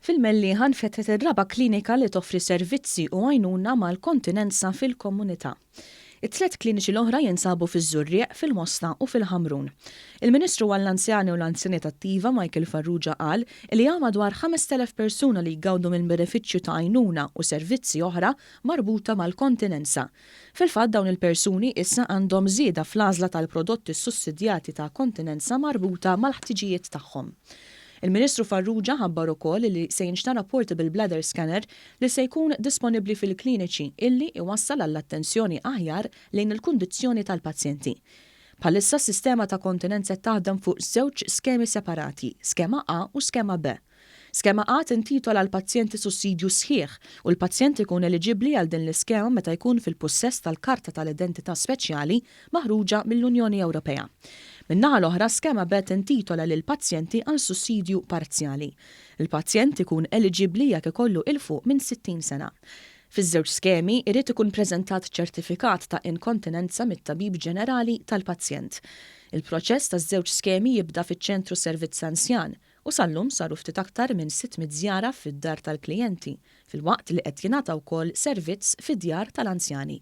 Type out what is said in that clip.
Fil-Mellieħa nfetħet ir-raba' klinika li toffri servizzi u għajnuna mal-kontinenza fil-komunità. It-tliet kliniċi l-oħra jinsabu fiż-Żurrieq, fil-Mosta u fil-Ħamrun. Il-Ministru għall-Anzjani u l-Anzjaniet Attiva Michael Farrugia qal li hawn madwar 5,000 persuna li jgawdu mill-benefiċċju ta' għajnuna u servizzi oħra marbuta mal-kontinenza. Fil-fatt dawn il-persuni issa għandhom żieda fl-għażla tal-prodotti ssussidjati ta' kontinenza marbuta mal-ħtiġijiet tagħhom. Il-Ministru Farrugia ħabbar ukoll li se jinxtara portable bladder scanner li se jkun disponibbli fil-kliniċi illi jwassal għall-attenzjoni aħjar lejn il-kundizzjoni tal-pazjenti. Bħalissa s-sistema ta' kontinenza taħdem fuq żewġ skemi separati, skema A u skema B. Skema A tintitola l-pazjenti sussidju sħiħ u l-pazjent ikun eliġibbli għal din l-iskema meta jkun fil-pussess tal-karta tal-identità speċjali maħruġa mill-Unjoni Ewropea. Min-naħa l-oħra, skema B tintitola lill-pazjenti għal sussidju parzjali. Il-pazjent ikun eliġibbli jekk ikollu 'il fuq minn 60 sena. Fiż-żewġ skemi, irid ikun preżentat ċertifikat ta' inkontinenza mit-tabib ġenerali tal-pazjent. Il-proċess taż-żewġ skemi jibda fiċ-Ċentru Servizz Anzjan, u sal-lum saru ftit aktar minn 600 żjara fid-dar tal-klijenti, filwaqt li qed jingħata wkoll servizz fid-djar tal-anzjani.